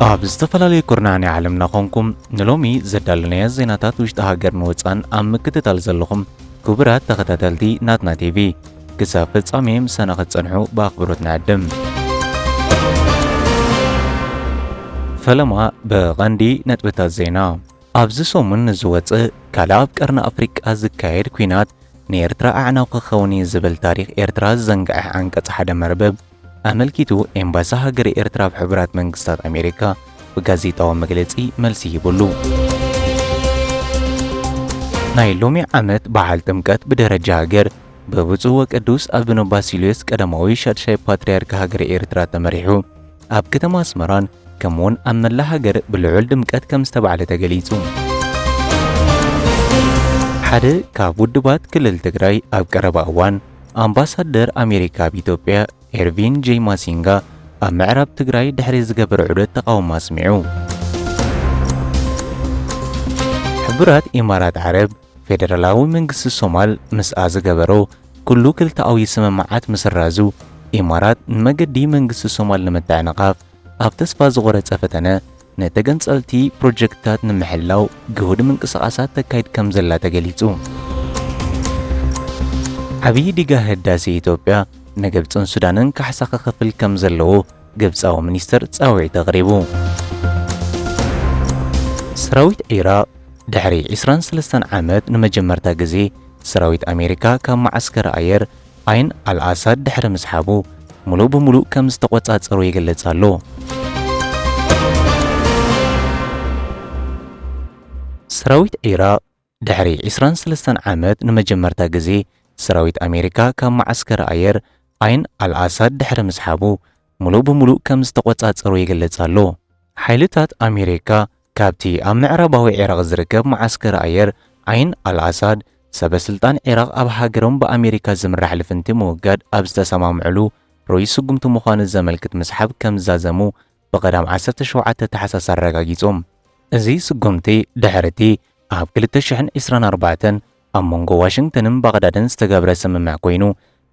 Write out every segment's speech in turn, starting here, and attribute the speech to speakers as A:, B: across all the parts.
A: ኣብ ዝተፈላለየ ኩርናዕ ናይ ዓለምና ኮንኩም ንሎሚ ዘዳለናዮ ዜናታት ውሽጢ ሃገርን ወፃን ኣብ ምክትታል ዘለኹም ክቡራት ተኸታተልቲ ናትና ቲቪ ክሳብ ፍጻሜ ምሳና ክትጸንሑ ብኣኽብሮት ንዕድም። ፈለማ ብቐንዲ ነጥብታት ዜና ኣብዚ ሰሙን ንዝወፅእ ካልእ ኣብ ቀርኒ ኣፍሪቃ ዝካየድ ኩናት ንኤርትራ ኣዕናው ክኸውን እዩ ዝብል ታሪክ ኤርትራ ዝዘንግዐ ዓንቀጽ ሓደ መርበብ ኣመልኪቱ ኤምባሲ ሃገረ ኤርትራ ኣብ ሕቡራት መንግስታት ኣሜሪካ ብጋዜጣዊ መግለጺ መልሲ ሂቡሉ። ናይ ሎሚ ዓመት በዓል ጥምቀት ብደረጃ ሃገር ብብፁዕ ወቅዱስ ኣቡነ ባሲልዮስ ቀዳማዊ ሻድሻይ ፓትርያርክ ሃገረ ኤርትራ ተመሪሑ ኣብ ከተማ ኣስመራን ከምኡውን ኣብ መላእ ሃገር ብልዑል ድምቀት ከም ዝተባዕለ ተገሊጹ። ሓደ ካብ ውድባት ክልል ትግራይ ኣብ ቀረባ እዋን ኣምባሳደር ኣሜሪካ ኣብ ኢትዮጵያ ኤርቪን ጄይ ማሲንጋ ኣብ ምዕራብ ትግራይ ድሕሪ ዝገበረ ዑደት ተቓውሞ ኣስሚዑ። ሕቡራት ኢማራት ዓረብ ፌደራላዊ መንግስቲ ሶማል ምስኣ ዝገበሮ ኩሉ ክልተኣዊ ስምምዓት ምስራዙ ኢማራት ንመገዲ መንግስቲ ሶማል ንምትዕንቓፍ ኣብ ተስፋ ዝቖረጸ ፈተነ፣ ንተገንጸልቲ ፕሮጀክትታት ንምሕላው ግሁድ ምንቅስቓሳት ተካይድ ከም ዘላ ተገሊጹ። ዓብዪ ዲጋ ህዳሴ ኢትዮጵያ ንግብጽን ሱዳንን ካሕሳ ክኸፍል ከም ዘለዎ ግብጻዊ ሚኒስተር ጻውዒት ኣቕሪቡ። ሰራዊት ዒራቕ ድሕሪ ዕስራን ሰለስተን ዓመት ንመጀመርታ ግዜ ሰራዊት ኣሜሪካ ካብ መዓስከር ኣየር ዓይን ኣል-ኣሳድ ድሕሪ ምስሓቡ ምሉእ ብምሉእ ከም ዝተቖጻጸሮ ይገልጽ ኣሎ። ሰራዊት ዒራቕ ድሕሪ ዕስራን ሰለስተን ዓመት ንመጀመርታ ግዜ ሰራዊት ኣሜሪካ ካብ መዓስከር ኣየር ዓይን ኣል-ኣሳድ ድሕሪ ምስሓቡ ምሉእ ብምሉእ ከም ዝተቖጻጸሮ ይገልጽ ኣሎ። ሓይልታት ኣሜሪካ ካብቲ ኣብ ምዕራባዊ ዒራቕ ዝርከብ መዓስከር ኣየር ዓይን ኣል-ኣሳድ፣ ሰበ ስልጣን ዒራቕ ኣብ ሃገሮም ብኣሜሪካ ዝምራሕ ልፍንቲ ምውጋድ ኣብ ዝተሰማምዕሉ ርኡይ ስጉምቲ ምዃኑ ዘመልክት ምስሓብ ከም ዝዛዘሙ ብቐዳም ዓሰርተ ሸውዓተ ታሕሳስ ኣረጋጊጾም። እዚ ስጉምቲ ድሕሪ'ቲ ኣብ ክልተ ሽሕን ዕስራን ኣርባዕተን ኣብ መንጎ ዋሽንግተንን ባቕዳድን ዝተገብረ ስምምዕ ኮይኑ፣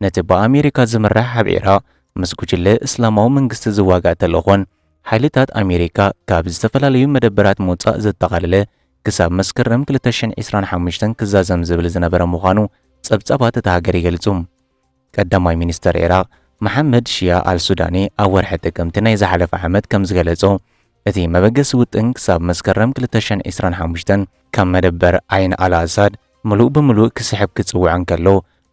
A: ነቲ ብኣሜሪካ ዝምራሕ ኣብ ዒራቕ ምስ ጉጅለ እስላማዊ መንግስቲ ዝዋጋእ ተልእኾን፣ ሓይልታት ኣሜሪካ ካብ ዝተፈላለዩ መደበራት ምውጻእ ዘጠቓለለ ክሳብ መስከረም 2025 ክዛዘም ዝብል ዝነበረ ምዃኑ ጸብጻባት እታ ሃገር ይገልጹ። ቀዳማይ ሚኒስተር ዒራቕ መሓመድ ሽያ ኣልሱዳኒ ኣብ ወርሒ ጥቅምቲ ናይ ዝሓለፈ ዓመት ከም ዝገለጾ እቲ መበገሲ ውጥን ክሳብ መስከረም 2025 ካብ መደበር ዓይን ኣልኣሳድ ምሉእ ብምሉእ ክስሕብ ክጽውዕ እንከሎ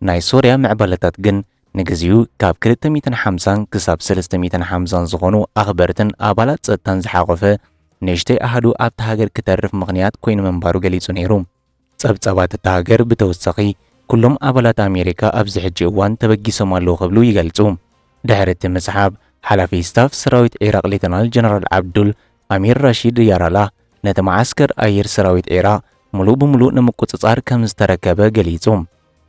A: ናይ ሶርያ ምዕባለታት ግን ንግዚኡ ካብ ክልተ ሚእትን ሓምሳን ክሳብ ሰለስተ ሚእትን ሓምሳን ዝኾኑ ኣኽበርትን ኣባላት ጸጥታን ዝሓቖፈ ንእሽተይ ኣሃዱ ኣብታ ሃገር ክተርፍ ምኽንያት ኮይኑ ምንባሩ ገሊጹ ነይሩ። ጸብጻባት እታ ሃገር ብተወሳኺ ኩሎም ኣባላት ኣሜሪካ ኣብዚ ሕጂ እዋን ተበጊሶም ኣለዉ ክብሉ ይገልጹ። ድሕሪ እቲ ምስሓብ፣ ሓላፊ ስታፍ ሰራዊት ዒራቕ ሌተናል ጀነራል ዓብዱል ኣሚር ራሺድ ያራላህ ነቲ መዓስከር ኣየር ሰራዊት ዒራቕ ምሉእ ብምሉእ ንምቁጽጻር ከምዝተረከበ ገሊጹ።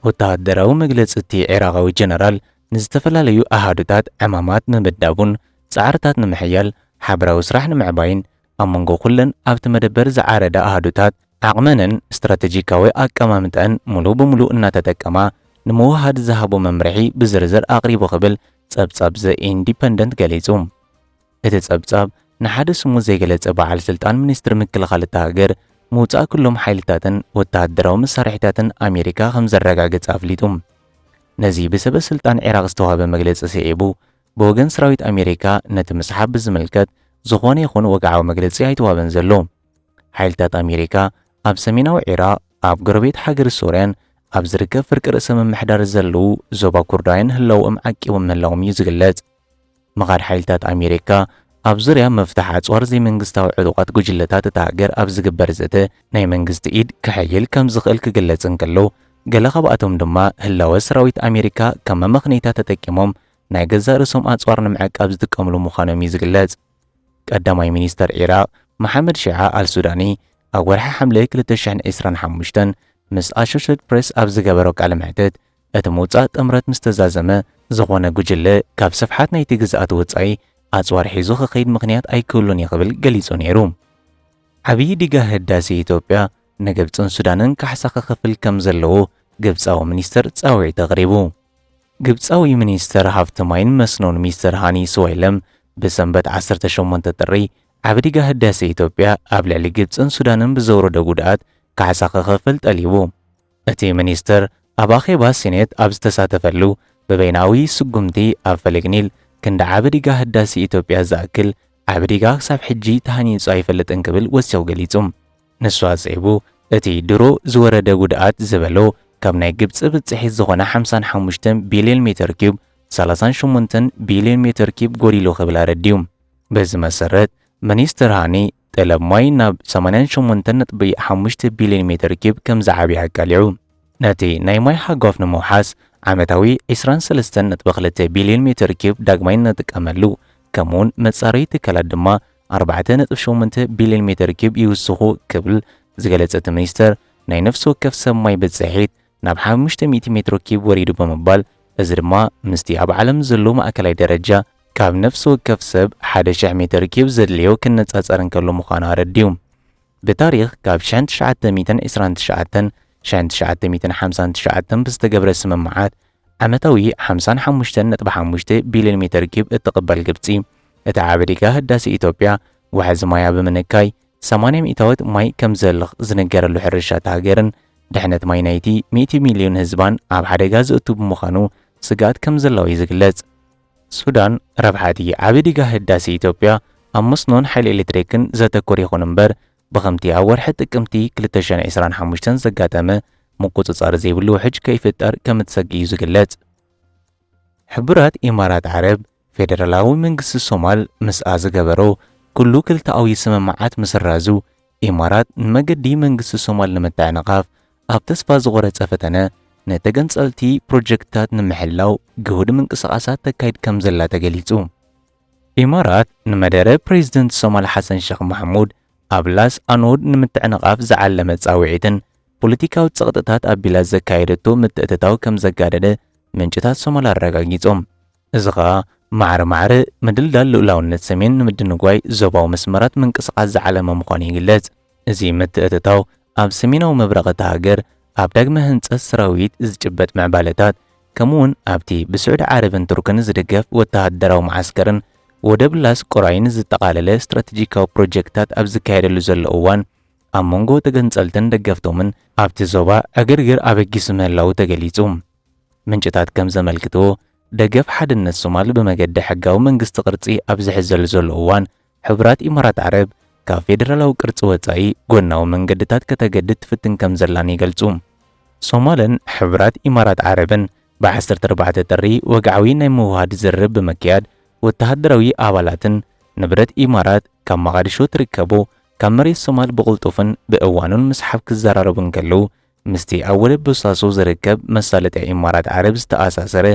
A: ወተሃደራዊ መግለጺ እቲ ዒራቓዊ ጀነራል ንዝተፈላለዩ ኣሃዱታት ዕማማት ንምምዳቡን ጻዕርታት ንምሕያል ሓበራዊ ስራሕ ንምዕባይን ኣብ መንጎ ኩለን ኣብቲ መደበር ዝዓረዳ ኣሃዱታት ዓቕመንን ስትራተጂካዊ ኣቀማምጠኣን ምሉእ ብምሉእ እናተጠቀማ ንምውህሃድ ዝሃቦ መምርሒ ብዝርዝር ኣቕሪቡ ክብል ጸብጻብ ዘ ኢንዲፐንደንት ገሊጹ። እቲ ጸብጻብ፣ ንሓደ ስሙ ዘይገለጸ በዓል ስልጣን ሚኒስትሪ ምክልኻል እታ ሃገር፣ ምውጻእ ኩሎም ሓይልታትን ወተሃደራዊ መሳርሒታትን ኣሜሪካ ከም ዘረጋገጸ ኣፍሊጡ። ነዚ ብሰበ ስልጣን ዒራቕ ዝተዋህበ መግለጺ ስዒቡ፣ ብወገን ሰራዊት ኣሜሪካ ነቲ ምስሓብ ብዝምልከት ዝዀነ ይኹን ወግዓዊ መግለጺ ኣይተዋህበን ዘሎ። ሓይልታት ኣሜሪካ ኣብ ሰሜናዊ ዒራቕ፣ ኣብ ጎረቤት ሃገር ሶርያን ኣብ ዝርከብ ፍርቂ ርእሰ ምምሕዳር ዘለዉ ዞባ ኩርዳውያን ህላወኦም ዓቂቦም ምህላዎም እዩ ዝግለጽ። ምኻድ ሓይልታት ኣሜሪካ ኣብ ዙርያ ምፍታሕ ኣጽዋር ዘይመንግስታዊ ዕጡቓት ጉጅለታት እታ ሃገር ኣብ ዝግበር ዘተ ናይ መንግስቲ ኢድ ከሕይል ከም ዝኽእል ክግለጽ እንከሎ፣ ገለ ካብኣቶም ድማ ህላወ ሰራዊት ኣሜሪካ ከም መመኽነይታ ተጠቂሞም ናይ ገዛእ ርእሶም ኣጽዋር ንምዕቃብ ዝጥቀምሉ ምዃኖም እዩ ዝግለጽ። ቀዳማይ ሚኒስተር ዒራቕ መሓመድ ሺዓ ኣልሱዳኒ ኣብ ወርሒ ሓምለ ክልተ ሽሕን ዕስራን ሓሙሽተን ምስ ኣሾሸትድ ፕረስ ኣብ ዝገበሮ ቃለ መሕትት፣ እቲ ምውጻእ ጥምረት ምስ ተዛዘመ፣ ዝኾነ ጉጅለ ካብ ስፍሓት ናይቲ ግዝኣት ወጻኢ ኣጽዋር ሒዙ ክኸይድ ምኽንያት ኣይክህሉን እዩ ክብል ገሊጹ ነይሩ። ዓብዪ ዲጋ ህዳሴ ኢትዮጵያ ንግብጽን ሱዳንን ካሕሳ ክኸፍል ከም ዘለዎ ግብጻዊ ሚኒስተር ጻውዒት ኣቕሪቡ። ግብጻዊ ሚኒስተር ሃፍቲ ማይን መስኖን ሚስተር ሃኒ ስዋይለም ብሰንበት ዓሰርተ ሸሞንተ ጥሪ ዓቢ ዲጋ ህዳሴ ኢትዮጵያ ኣብ ልዕሊ ግብጽን ሱዳንን ብዘውረዶ ጉድኣት ካሕሳ ክኸፍል ጠሊቡ። እቲ ሚኒስትር ኣብ ኣኼባ ሲኔት ኣብ ዝተሳተፈሉ፣ ብበይናዊ ስጉምቲ ኣብ ፈለግ ኒል ክንዲ ዓቢ ዲጋ ህዳሴ ኢትዮጵያ ዝኣክል ዓቢ ዲጋ ክሳብ ሕጂ ተሃኒጹ ኣይፈልጥን ክብል ወሲኹ ገሊጹ። ንሱ ኣጽዒቡ እቲ ድሮ ዝወረደ ጉድኣት ዝበሎ ካብ ናይ ግብጺ ብጽሒት ዝኾነ ሓምሳን ሓሙሽተን ቢልዮን ሜተር ኪዩብ ሰላሳን ሸሞንተን ቢልዮን ሜተር ኪዩብ ጎዲሉ ክብል ኣረዲኡ። በዚ መሰረት ሚኒስትር ሃኒ፣ ጠለብ ማይ ናብ ሰማንያን ሸሞንተን ነጥቢ ሓሙሽተ ቢልዮን ሜተር ኪዩብ ከምዝዓብየ ኣቃሊዑ። ነቲ ናይ ማይ ሓጓፍ ንምውሓስ ዓመታዊ ዕስራን ሰለስተን ነጥቢ ክልተ ቢልዮን ሜተር ኪዩብ ዳግማይ ንጥቀመሉ፣ ከምኡ'ውን መጻረዪ ትካላት ድማ ኣርባዕተ ነጥቢ ሸሞንተ ቢልዮን ሜተር ኪዩብ ይውስኹ ክብል ዝገለጸ እቲ ሚኒስተር፣ ናይ ነፍሲ ወከፍ ሰብ ማይ ብጽሒት ናብ ሓሙሽተ ሚእቲ ሜትሮ ኪዩብ ወሪዱ ብምባል እዚ ድማ ምስቲ ኣብ ዓለም ዘሎ ማእከላይ ደረጃ ካብ ነፍሲ ወከፍ ሰብ ሓደ ሽሕ ሜትር ኪዩብ ዘድልዮ ክነጻጸር እንከሎ ምዃኑ ኣረዲኡ። ብታሪኽ ካብ ሽሕን ትሽዓተ ሚእትን ዕስራን ትሽዓተን ሽሕን ትሽዓተ ሚእትን ሓምሳን ትሽዓተን ብዝተገብረ ስምምዓት ዓመታዊ ሓምሳን ሓሙሽተን ነጥቢ ሓሙሽተ ቢልዮን ሜትር ኪዩብ እትቕበል ግብጺ እቲ ዓቢ ዲጋ ህዳሴ ኢትዮጵያ ዋሕዚ ማያ ብምንካይ ሰማንያ ሚእታዎት ማይ ከም ዝህልኽ ዝንገረሉ ሕርሻ እታ ሃገርን ድሕነት ማይ ናይቲ ሚእቲ ሚልዮን ህዝባን ኣብ ሓደጋ ዘእቱ ብምዃኑ ስግኣት ከም ዘለዎ እዩ ዝግለጽ። ሱዳን፣ ረብሓ እቲ ዓቢ ዲጋ ህዳሴ ኢትዮጵያ ኣብ መስኖን ሓይሊ ኤሌክትሪክን ዘተኮረ ይኹን እምበር፣ ብኸምቲ ኣብ ወርሒ ጥቅምቲ ክልተ ሽሕን ዕስራን ሓሙሽተን ዘጋጠመ ምቁጽጻር ዘይብሉ ውሕጅ ከይፍጠር ከም እትሰግእ እዩ ዝግለጽ። ሕቡራት ኢማራት ዓረብ፣ ፌደራላዊ መንግስቲ ሶማል ምስኣ ዝገበሮ ኩሉ ክልተኣዊ ስምምዓት ምስራዙ፣ ኢማራት ንመገዲ መንግስቲ ሶማል ንምትዕንቓፍ ኣብ ተስፋ ዝቖረጸ ፈተነ ንተገንጸልቲ ፕሮጀክትታት ንምሕላው ግሁድ ምንቅስቓሳት ተካይድ ከምዘላ ተገሊጹ። ኢማራት ንመደረ ፕሬዝደንት ሶማል ሓሰን ሸኽ ማሕሙድ ኣብ ላስ ኣኖድ ንምትዕንቓፍ ዝዓለመ ጻውዒትን ፖለቲካዊ ጸቕጥታት ኣቢላ ዘካየደቶ ምትእትታው ከምዘጋደደ ምንጭታት ሶማል ኣረጋጊጾም። እዚ ከኣ ማዕረ ማዕረ ምድልዳል ልኡላውነት ሰሜን ንምድንጓይ ዞባዊ መስመራት ምንቅስቓስ ዝዓለመ ምዃኑ ይግለጽ። እዚ ምትእትታው ኣብ ሰሜናዊ ምብራቕ እታ ሃገር ኣብ ዳግመ ህንጸት ሰራዊት ዝጭበጥ ምዕባለታት ከምኡ'ውን ኣብቲ ብስዑዲ ዓረብን ቱርክን ዝድገፍ ወተሃደራዊ መዓስከርን ወደብ ላስ ቆራይን ዝጠቓለለ ስትራተጂካዊ ፕሮጀክትታት ኣብ ዝካየደሉ ዘሎ እዋን ኣብ መንጎ ተገንጸልትን ደገፍቶምን ኣብቲ ዞባ ዕግርግር ኣበጊሱ ምህላዉ ተገሊጹ። ምንጭታት ከም ዘመልክትዎ፣ ደገፍ ሓድነት ሶማል ብመገዲ ሕጋዊ መንግስቲ ቅርጺ ኣብ ዝሕዘሉ ዘሎ እዋን፣ ሕቡራት ኢማራት ዓረብ ካብ ፌደራላዊ ቅርጺ ወጻኢ ጎናዊ መንገድታት ከተገድድ ትፍትን ከም ዘላን ይገልጹ። ሶማልን ሕቡራት ኢማራት ዓረብን ብ ዓሰርተ ኣርባዕተ ጥሪ ወግዓዊ ናይ ምውህሃድ ዝርርብ ብምክያድ፣ ወተሃደራዊ ኣባላትን ንብረት ኢማራት ካብ መቓድሾ ትርከቦ ካብ መሬት ሶማል ብቕልጡፍን ብእዋኑን ምስሓብ ክዘራረቡ እንከለዉ፣ ምስቲ ኣብ ወደብ ቦሳሶ ዝርከብ መሳለጥያ ኢማራት ዓረብ ዝተኣሳሰረ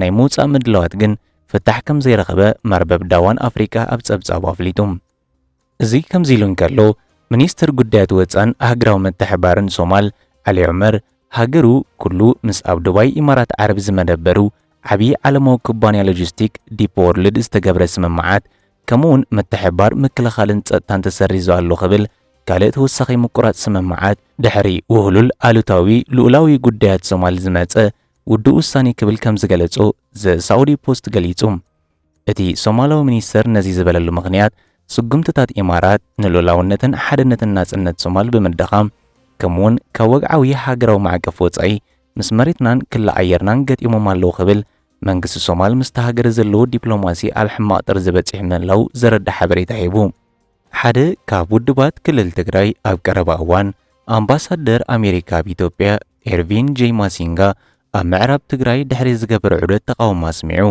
A: ናይ ምውጻእ ምድላዋት ግን ፍታሕ ከም ዘይረኸበ መርበብ ዳዋን ኣፍሪቃ ኣብ ጸብጻቡ ኣፍሊጡ። እዚ ከምዚ ኢሉ እንከሎ፣ ሚኒስተር ጉዳያት ወጻን ሃገራዊ ምትሕብባርን ሶማል ዓሊ ዑመር፣ ሃገሩ ኩሉ ምስ ኣብ ዱባይ ኢማራት ዓረብ ዝመደበሩ ዓቢ ዓለማዊ ኩባንያ ሎጂስቲክ ዲፕ ዎርልድ ዝተገብረ ስምምዓት ከምኡውን ምትሕብባር ምክልኻልን ጸጥታን ተሰሪዙ ኣሎ ክብል ካልእ ተወሳኺ ምቁራጽ ስምምዓት ድሕሪ ውህሉል ኣሉታዊ ልኡላዊ ጉዳያት ሶማል ዝመጸ ውዱእ ውሳኔ ክብል ከም ዝገለጾ ዘ ሳኡዲ ፖስት ገሊጹ። እቲ ሶማላዊ ሚኒስተር ነዚ ዝበለሉ ምኽንያት ስጉምትታት ኢማራት ንልኡላውነትን ሓድነትን ናጽነት ሶማል ብምድኻም ከምኡውን ካብ ወግዓዊ ሃገራዊ ማዕቀፍ ወጻኢ ምስ መሬትናን ክሊ ኣየርናን ገጢሞም ኣለዉ ክብል መንግስቲ ሶማል ምስታ ሃገር ዘለዎ ዲፕሎማሲ ኣብ ሕማቕ ጥርዚ በጺሑ ምህላዉ ዘረድእ ሓበሬታ ሂቡ። ሓደ ካብ ውድባት ክልል ትግራይ ኣብ ቀረባ እዋን ኣምባሳደር ኣሜሪካ ኣብ ኢትዮጵያ ኤርቪን ጄይ ማሲንጋ ኣብ ምዕራብ ትግራይ ድሕሪ ዝገበረ ዑደት ተቓውሞ ኣስሚዑ።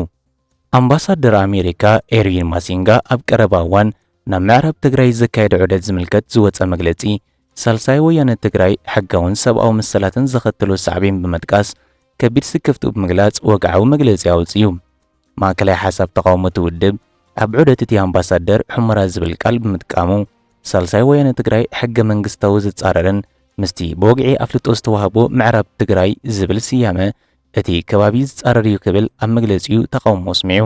A: ኣምባሳደር ኣሜሪካ ኤርቪን ማሲንጋ ኣብ ቀረባ እዋን ናብ ምዕራብ ትግራይ ዘካየደ ዑደት ዝምልከት ዝወጸ መግለጺ ሳልሳይ ወያነ ትግራይ ሕጋውን ሰብኣዊ መሰላትን ዘኸትሎ ሳዕቤን ብምጥቃስ ከቢድ ስክፍትኡ ብምግላጽ ወግዓዊ መግለጺ ኣውጺኡ። ማእከላይ ሓሳብ ተቓውሞቲ ውድብ ኣብ ዑደት እቲ ኣምባሳደር ሑመራ ዝብል ቃል ብምጥቃሙ ሳልሳይ ወያነ ትግራይ ሕገ መንግስታዊ ዝጻረርን ምስቲ ብወግዒ ኣፍልጦ ዝተዋህቦ ምዕራብ ትግራይ ዝብል ስያመ እቲ ከባቢ ዝጻረር እዩ ክብል ኣብ መግለጺኡ ተቓውሞ ኣስሚዑ።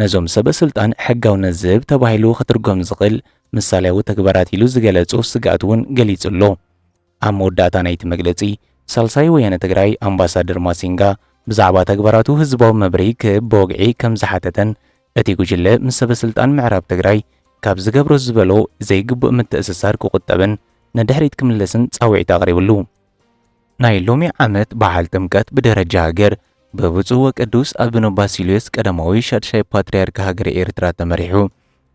A: ነዞም ሰበስልጣን ሕጋውነት ዝህብ ተባሂሉ ክትርጎም ዝኽእል ምሳልያዊ ተግባራት ኢሉ ዝገለጾ ስግኣት እውን ገሊጹ ኣሎ። ኣብ መወዳእታ ናይቲ መግለጺ ሳልሳይ ወያነ ትግራይ ኣምባሳደር ማሲንጋ ብዛዕባ ተግባራቱ ህዝባዊ መብርሂ ክህብ ብወግዒ ከም ዝሓተተን እቲ ጉጅለ ምስ ሰበስልጣን ምዕራብ ትግራይ ካብ ዝገብሮ ዝበሎ ዘይግቡእ ምትእስሳር ክቑጠብን ንድሕሪት ክምለስን ጻውዒት ኣቕሪብሉ። ናይ ሎሚ ዓመት በዓል ጥምቀት ብደረጃ ሃገር በብፁዕ ወቅዱስ ኣቡነ ባሲልዮስ ቀዳማዊ ሻድሻይ ፓትርያርክ ሃገረ ኤርትራ ተመሪሑ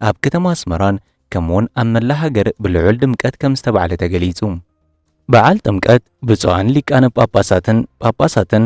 A: ኣብ ከተማ ኣስመራን ከምኡውን ኣብ መላእ ሃገር ብልዑል ድምቀት ከም ዝተባዕለ ተገሊጹ። በዓል ጥምቀት ብፁዓን ሊቃነ ጳጳሳትን ጳጳሳትን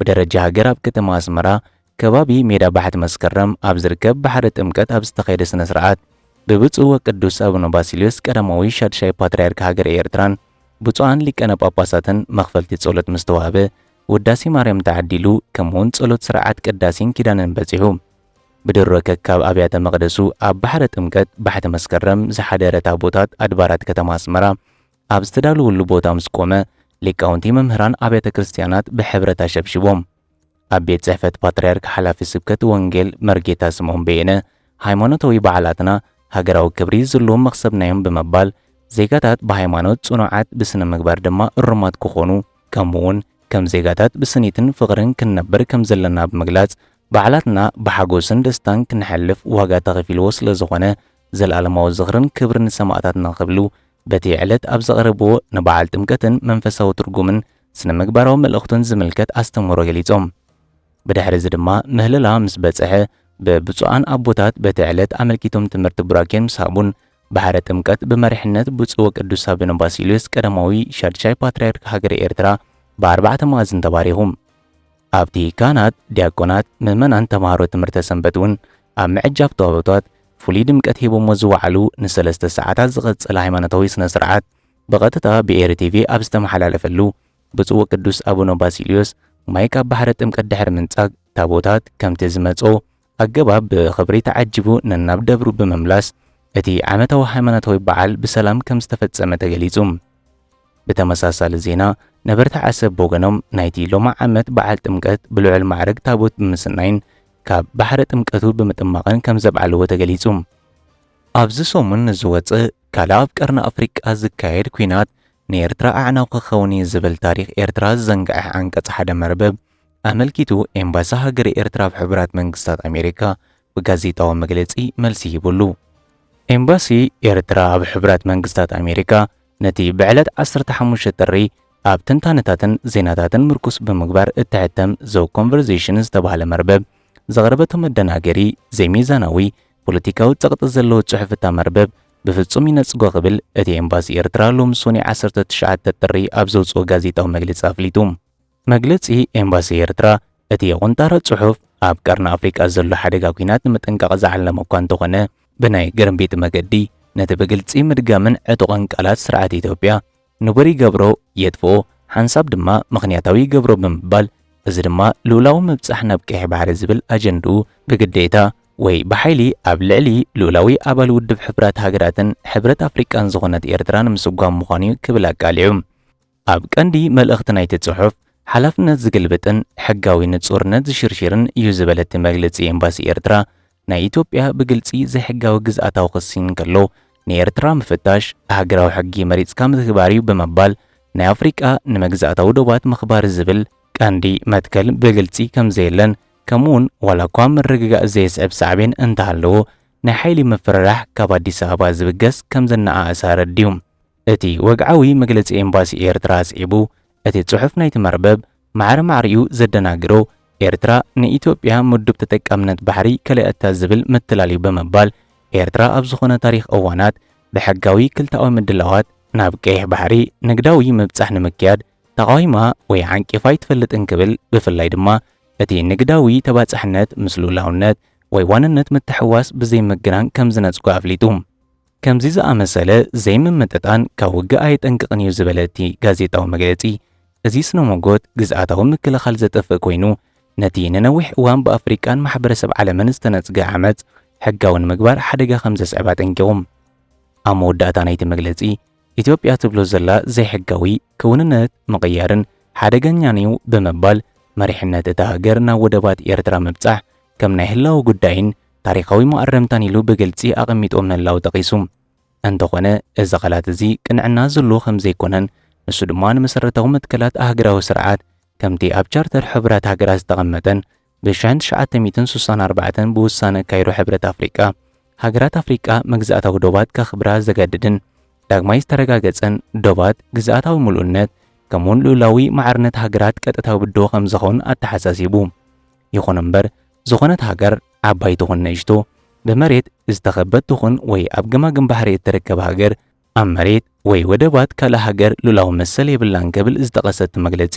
A: ብደረጃ ሃገር ኣብ ከተማ ኣስመራ ከባቢ ሜዳ ባሕቲ መስከረም ኣብ ዝርከብ ባሕሪ ጥምቀት ኣብ ዝተኸየደ ስነ ስርዓት ብብፁዕ ወቅዱስ ኣቡነ ባሲልዮስ ቀዳማዊ ሻድሻይ ፓትርያርክ ሃገረ ኤርትራን ብፁዓን ሊቀነ ጳጳሳትን መኽፈልቲ ጸሎት ምስ ተዋህበ ውዳሴ ማርያም ተዓዲሉ ከምኡውን ጸሎት ስርዓት ቅዳሴን ኪዳንን በጺሑ ብድሮ ከካብ ኣብያተ መቕደሱ ኣብ ባሕረ ጥምቀት ባሕቲ መስከረም ዝሓደረ ታቦታት ኣድባራት ከተማ ኣስመራ ኣብ ዝተዳለወሉ ቦታ ምስ ቆመ፣ ሊቃውንቲ መምህራን ኣብያተ ክርስቲያናት ብሕብረት ኣሸብሽቦም። ኣብ ቤት ጽሕፈት ፓትርያርክ ሓላፊ ስብከት ወንጌል መርጌታ ስምኦን በየነ፣ ሃይማኖታዊ በዓላትና ሃገራዊ ክብሪ ዝልዎም መኽሰብና'ዮም ብምባል፣ ዜጋታት ብሃይማኖት ጽኑዓት ብስነ ምግባር ድማ እሩማት ክኾኑ ከምኡ'ውን ከም ዜጋታት ብስኒትን ፍቕርን ክንነብር ከም ዘለና ብምግላጽ፣ በዓላትና ብሓጎስን ደስታን ክንሐልፍ ዋጋ ተኸፊልዎ ስለ ዝኾነ ዘልኣለማዊ ዝኽርን ክብርን ንሰማእታትና ክብሉ በቲ ዕለት ኣብ ዘቕረብዎ ንበዓል ጥምቀትን መንፈሳዊ ትርጉምን ስነ ምግባራዊ መልእኽቱን ዝምልከት ኣስተምህሮ ገሊጾም። ብድሕሪ እዚ ድማ ምህለላ ምስ በጽሐ ብብፁዓን ኣቦታት በቲ ዕለት ኣመልኪቶም ትምህርቲ ቡራኬን ምስ ሃቡን ባሕረ ጥምቀት ብመሪሕነት ብፁዕ ወቅዱስ ኣቡነ ባሲልዮስ ቀዳማዊ ሻድሻይ ፓትርያርክ ሃገረ ኤርትራ ብኣርባዕተ መኣዝን ተባሪኹ። ኣብቲ ካህናት፣ ዲያቆናት፣ ምእመናን ተማሃሮ ትምህርተ ሰንበት እውን ኣብ ምዕጃብ ታቦታት ፍሉይ ድምቀት ሂቦሞ ዝወዓሉ ንሰለስተ ሰዓታት ዝቐጸለ ሃይማኖታዊ ስነ ስርዓት ብቐጥታ ብኤሪ ቲቪ ኣብ ዝተመሓላለፈሉ ብፁዕ ወቅዱስ ኣቡነ ባሲልዮስ ማይ ካብ ባሕረ ጥምቀት ድሕሪ ምንጻግ ታቦታት ከምቲ ዝመጽኦ ኣገባብ ብኽብሪ ተዓጂቡ ነናብ ደብሩ ብምምላስ እቲ ዓመታዊ ሃይማኖታዊ በዓል ብሰላም ከምዝተፈጸመ ተገሊጹ። ብተመሳሳሊ ዜና ነበርቲ ዓሰብ ብወገኖም ናይቲ ሎሚ ዓመት በዓል ጥምቀት ብልዑል ማዕርግ ታቦት ብምስናይን ካብ ባሕረ ጥምቀቱ ብምጥማቕን ከምዘብዓልዎ ተገሊጹ። ኣብዚ ሰሙን ንዝወጽእ ካልእ ኣብ ቀርኒ ኣፍሪቃ ዝካየድ ኲናት ንኤርትራ ኣዕናዊ ክኸውን እዩ ዝብል ታሪኽ ኤርትራ ዝዘንግዐ ዓንቀጽ ሓደ መርበብ ኣመልኪቱ ኤምባሲ ሃገረ ኤርትራ ኣብ ሕቡራት መንግስታት ኣሜሪካ ብጋዜጣዊ መግለጺ መልሲ ሂቡሉ። ኤምባሲ ኤርትራ ኣብ ሕቡራት መንግስታት ኣሜሪካ ነቲ ብዕለት ዓሰርተ ሓሙሽተ ጥሪ ኣብ ትንታነታትን ዜናታትን ምርኩስ ብምግባር እትሕተም ዘው ኮንቨርሴሽን ዝተባህለ መርበብ ዘቕረበቶ መደናገሪ፣ ዘይሚዛናዊ፣ ፖለቲካዊ ጸቕጢ ዘለዎ ጽሑፍ እታ መርበብ ብፍጹም ይነጽጎ ክብል እቲ ኤምባሲ ኤርትራ ሎሚ ሶኒ ዓሰርተ ትሽዓተ ጥሪ ኣብ ዘውጽኦ ጋዜጣዊ መግለጺ ኣፍሊጡ። መግለጺ ኤምባሲ ኤርትራ፣ እቲ የቑንጣሮ ጽሑፍ ኣብ ቀርኒ ኣፍሪቃ ዘሎ ሓደጋ ኲናት ንምጥንቃቕ ዝዓለመ እኳ እንተኾነ፣ ብናይ ግርምቢጥ መገዲ ነቲ ብግልጺ ምድጋምን ዕጡቕን ቃላት ስርዓት ኢትዮጵያ ንቡር ይገብሮ፣ የጥፍኦ፣ ሓንሳብ ድማ ምኽንያታዊ ይገብሮ ብምባል እዚ ድማ ልኡላዊ ምብጻሕ ናብ ቀይሕ ባሕሪ ዝብል ኣጀንድኡ ብግዴታ ወይ ብሓይሊ ኣብ ልዕሊ ልኡላዊ ኣባል ውድብ ሕቡራት ሃገራትን ሕብረት ኣፍሪቃን ዝኾነት ኤርትራ ንምስጓም ምዃኑ'ዩ ክብል ኣቃሊዑ። ኣብ ቀንዲ መልእኽቲ ናይቲ ጽሑፍ፣ ሓላፍነት ዝግልብጥን ሕጋዊ ንጹርነት ዝሽርሽርን እዩ ዝበለ እቲ መግልጺ ኤምባሲ ኤርትራ ናይ ኢትዮጵያ ብግልጺ ዘይሕጋዊ ግዝኣታዊ ክሲ እንከሎ ንኤርትራ ምፍታሽ ኣህግራዊ ሕጊ መሪጽካ ምትግባር'ዩ ብምባል ናይ ኣፍሪቃ ንመግዛእታዊ ዶባት ምኽባር ዝብል ቀንዲ መትከል ብግልጺ ከምዘየለን ከምኡ'ውን ዋላኳ ምርግጋእ ዘየስዕብ ሳዕቤን እንተሃለዎ ናይ ሓይሊ ምፍርራሕ ካብ ኣዲስ ኣበባ ዝብገስ ከምዘነኣእሰ ኣረዲኡ። እቲ ወግዓዊ መግለጺ ኤምባሲ ኤርትራ ኣስዒቡ፣ እቲ ጽሑፍ ናይቲ መርበብ ማዕረ ማዕሪኡ ዘደናግሮ፣ ኤርትራ ንኢትዮጵያ ምዱብ ተጠቃምነት ባሕሪ ከለኣታ ዝብል ምትላል'ዩ ብምባል፣ ኤርትራ ኣብ ዝኾነ ታሪኽ እዋናት ብሕጋዊ ክልተኣዊ ምድላዋት፣ ናብ ቀይሕ ባሕሪ ንግዳዊ ምብጻሕ ንምክያድ ተቓዊማ ወይ ዓንቂፋ ኣይትፈልጥን ክብል፣ ብፍላይ ድማ እቲ ንግዳዊ ተባጻሕነት ምስ ልኡላውነት ወይ ዋንነት ምትሕውዋስ ብዘይምግናን ከምዝነጽጎ ኣፍሊጡ። ከምዚ ዝኣመሰለ ዘይምምጥጣን ካብ ውግእ ኣየጠንቅቕን እዩ ዝበለ እቲ ጋዜጣዊ መግለጺ፣ እዚ ስነ-ሞጎት ግዝኣታዊ ምክልኻል ዘጥፍእ ኮይኑ፣ ነቲ ንነዊሕ እዋን ብኣፍሪቃን ማሕበረሰብ ዓለምን ዝተነጽገ ዓመጽ ሕጋዊ ንምግባር ሓደጋ ከም ዘስዕብ ኣጠንቂቑ። ኣብ መወዳእታ ናይቲ መግለጺ፣ ኢትዮጵያ ትብሎ ዘላ ዘይሕጋዊ ክውንነት ምቕያርን ሓደገኛን'ዩ ብምባል፣ መሪሕነት እታ ሃገር ናብ ወደባት ኤርትራ ምብጻሕ ከም ናይ ህላወ ጉዳይን ታሪኻዊ መኣረምታን ኢሉ ብግልጺ ኣቐሚጥዎ ምህላዉ ጠቒሱ፣ እንተኾነ እዚ ቃላት እዚ ቅንዕና ዘለዎ ከም ዘይኮነን ንሱ ድማ ንመሰረታዊ መትከላት ኣህግራዊ ስርዓት ከምቲ ኣብ ቻርተር ሕቡራት ሃገራት ዝተቐመጠን ብሽሕን ትሽዓተ ሚእትን ስሳን ኣርባዕተን ብውሳነ ካይሮ ሕብረት ኣፍሪቃ ሃገራት ኣፍሪቃ መግዛእታዊ ዶባት ከኽብራ ዘገድድን ዳግማይ ዝተረጋገጸን ዶባት ግዝኣታዊ ምሉእነት ከምኡውን ልኡላዊ ማዕርነት ሃገራት ቀጥታዊ ብድሆ ከም ዝኸውን ኣተሓሳሲቡ። ይኹን እምበር ዝኾነት ሃገር ዓባይ ትኹን ንእሽቶ፣ ብመሬት ዝተኸበት ትኹን ወይ ኣብ ገማግም ባሕሪ እትርከብ ሃገር፣ ኣብ መሬት ወይ ወደባት ካልእ ሃገር ሉላዊ መሰል የብላን ክብል ዝጠቐሰ እቲ መግለጺ፣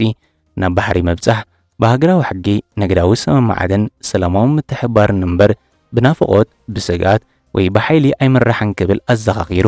A: ናብ ባሕሪ ምብጻሕ ብሃገራዊ ሕጊ፣ ንግዳዊ ስምምዓትን ሰላማዊ ምትሕብባርን እምበር ብናፍቖት፣ ብስግኣት ወይ ብሓይሊ ኣይምራሕን ክብል ኣዘኻኺሩ።